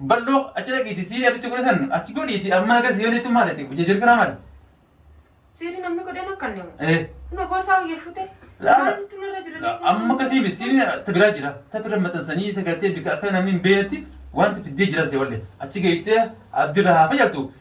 Balloo achi dhaqiiti sii abitti godhe san achi godhiiti ammaa gara sii oliitti maal ati hojii jirkira maal. Seerri namni godheen akka inni hojjetu. Eh. Nama boosaa hojii fuutee. Laala. Maaltu narra jira? Amma akkasii misiin ta biraa jira. Ta bira maxxansanii ta gartee bika akka namni hin beeknetti wanti fiddee jira see wallee. Achi geessee abdirra haa fayyaddu.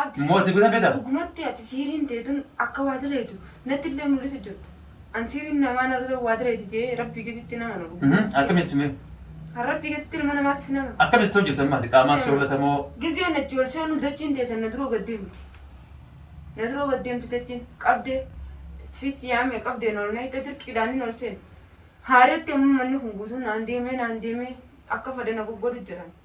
Abdi Mooti bira fedha. dhugumatti ati siiriin teetun akka waa daleetu natti illee mul'isu jirta. An siiriin namaa narra waa daleeti jee rabbii gaditti nama na dhugu. Akkamitti mee? Kan rabbii gaditti ilma namaatiif nama. Akkamitti hojjetan maati? Qaamaa soorata moo? Gizee na joolsee nu dachiin teessan na duroo gad deemti. Na duroo gad deemti dachiin qabdee fis yaame qabdee nool na hiiqa dirqiidhaan hin oolcheen. Haareetti amma manni kun guutuu naan deemee naan deemee akka fadana goggodu jedhan.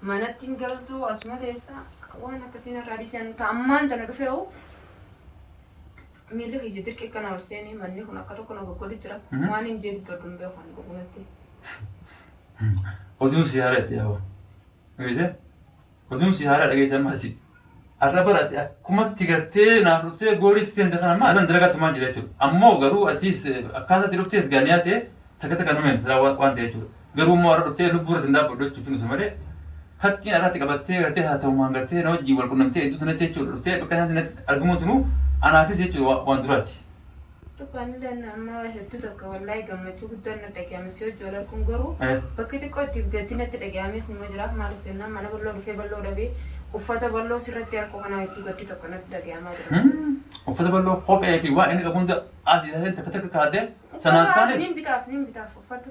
manatti hin galtu asuma teessa waan akkasiin irraa dhiisan ka ammaan tana dhufe hoo miilli kiyya dirqi kana ol seenee manni kun akka tokko na goggodu jira Mhm. waan hin jee dubbadhu hin beeku ani dhugumatti Oduun si haaraa itti yaa'u. Dhageessee? Oduun si haaraa dhageessan maati. Har'a bara ati akkumatti gartee naaf dhuftee goolii itti seente kana maal nan dalagaa tumaan jira jechuudha. Ammoo garuu atis akkaataa itti dhuftees gaaniyaa ta'e takka takka numeen silaa waan waan ta'e jechuudha. Garuu immoo har'a dhuftee lubbuu irratti hin dhaabbadhu jechuun finuusa malee kattiin har'atti qabattee gartee haa ta'umaan gartee na wajjin wal qunnamtee iddoo sanatti jechuudha dhuftee bakka sanatti natti argamuun tunuu anaafis jechuudha waan duraati. Dhugaan ilaalna amma hedduu tokko wallahi gammachuu guddaan na dhaga'ame si hojii wal arguun garuu Eh. bakki xiqqoo itti gaddi natti dhaga'ames nima jira maaliif jennaan mana bal'oo dhufee bal'oo dhabee uffata bal'oo sirratti harkoo kanaa hedduu gaddi tokko natti dhaga'amaa jira. Hmm. Uffata bal'oo kophee fi waa inni qabu hunda asii asii takka takka kaadee sanaan Uffata taane. Niin bitaaf niin bitaaf uffadhu.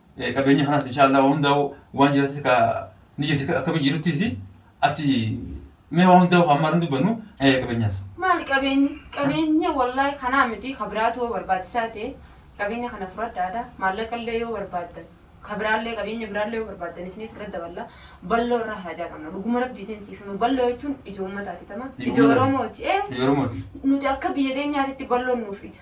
qabeenya kanas inshaallah hundaa'u waan jiratis ka ni jirti akkami jiruttis ati mee waan hundaa'u kan maran dubbannu qabeenyas. Maali qabeenyi qabeenya wallaahi kanaa miti kabiraatu yoo barbaachisaa ta'e qabeenya kana fudhadhaadha maallaqa illee yoo barbaaddan kabiraallee qabeenya biraallee yoo barbaaddan isiniif irra daballa balloo irra haajaa qabna dhuguma rabbiitiin siif hima balloo jechuun ija uummataati tama ija Oromooti ee Yeroo mootii. nuti akka biyya teenyaatitti balloon nuuf ija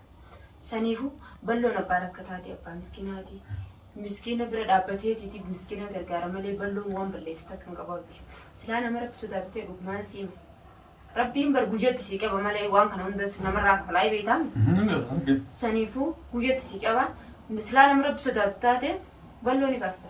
Saniifuu balloon abbaa rakkataati abbaa miskinaati. Miskiina bira dhaabbateetiiti miskiina gargaara malee balloon waan balleessita kan qabaatti. Silaa nama rabbi sodaatu ta'e dhugumaan si hima. Rabbiin bar guyyatti si qaba malee waan kana hundas namarraa kafalaa beektaam. Saniifuu guyyatti si qaba. Silaa nama rabbi sodaatu taate balloo ni baasta.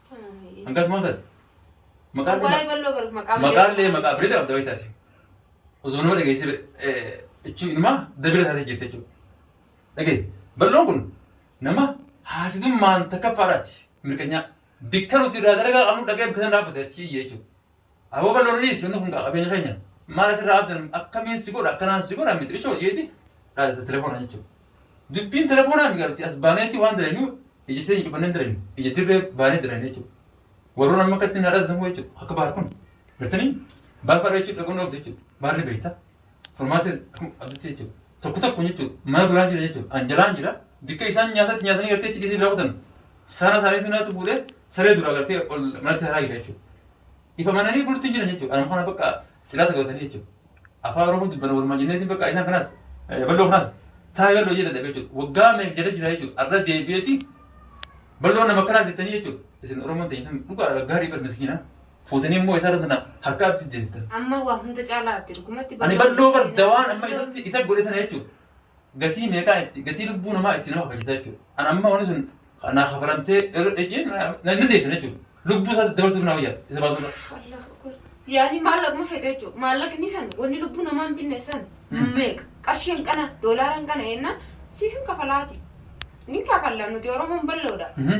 Hangas maal taate? Maqaan kee Waa'ee balloo bar maqaa malee. maqaan lee maqaa birrii qabda wayii taate. Osoo nama dhageessee jechuun inumaa dabira taatee jirti jechuudha. Dhagee balloon kun nama haasitummaan takkaffaadhaati mirkanyaa. Bikka nuti irraa dalagaa qabnu dhagee bikka sana dhaabbate achi iyyee jechuudha. Aboo bal'oonnis wanni kun qabeenya keenya maal asirraa abdan akkamiin si godha akkanaan si godha miti ishoo jeeti dhaadata telefoona jechuudha. Dubbiin telefoonaa migarti as baaneeti waan dalagnu ija seenyi cufannee dalagnu ija dirree baanee dalagnu jechuudha. Warroon amma akkatti na dhaadatan jechuudha akka baar kun. Gartanii baar fadha jechuudha dhaqoon dhoofte jechuudha baarri beektaa. Furmaata abditti jechuudha. Tokko tokko jechuudha. Mana biraan jira jechuudha. Anjalaan jira. Bikka isaan nyaatatti nyaatanii gartee itti dhiisanii biraa kutan. Saana isaanii sunaatu fuudhee saree dura gartee ol manatti haraa jira jechuudha. Ifa mananii bulti hin jiran jechuudha. Anuma kana bakka xilaata qabatanii jechuudha. Afaan Oromoo dubbana walumaa jenneetiin bakka isaan kanas bal'oo kanas taa'ee bal'oo jedhan dhabe jechuudha. Waggaa meeqa jala jira jechuudha. Arra deebi'eeti bal'oo nama kanas jettanii jechuudha. Isin Oromoon ta'e isin dhugaa gaarii bar miskiinaa. fuutanii immoo isarra sana harka abdi deemtan. Amma waa hunda caalaa abdi dhugumatti Ani balloo bar dawaan amma isatti isa godhe sana jechuudha. Gatii meeqaa itti gatii lubbuu namaa itti nama kabachiisa jechuudha. Ani amma wanni sun naa kafalamtee irra dhejee na dandeessu jechuudha. Lubbuu isaatti dabarsuuf na wayyaa isa baasuudha. Yaani maallaqa ma fete jechuudha. Maallaqni san wanni lubbuu namaa hin binne san Hmm. meeqa qarshiin kana doolaaraan kana ennaa siif hin kafalaati. Ni kafalla nuti Oromoon balloodha. Mhm.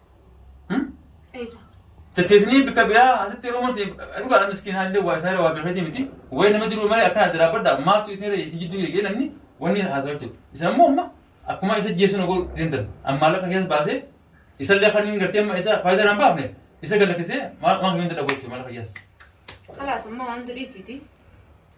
Eessa? Chatteessinii bakka biraa asitti yeroo mati dhugaadha miskiin haallee waa isaa waa beekatii miti. Wayii nama jiru malee akkana adda dhaabbadha maaltu isin irra jidduu eegee namni wanni haasaa jechuudha. Isin ammoo amma akkuma isa jeessuun oguu deemtan ammaa lafa keessa baasee isa illee kan hin gartee amma isa faayidaa naan baafne isa galakkisee maal maal hin danda'u jechuudha maal fayyaas. Kalaas amma waan durii siiti.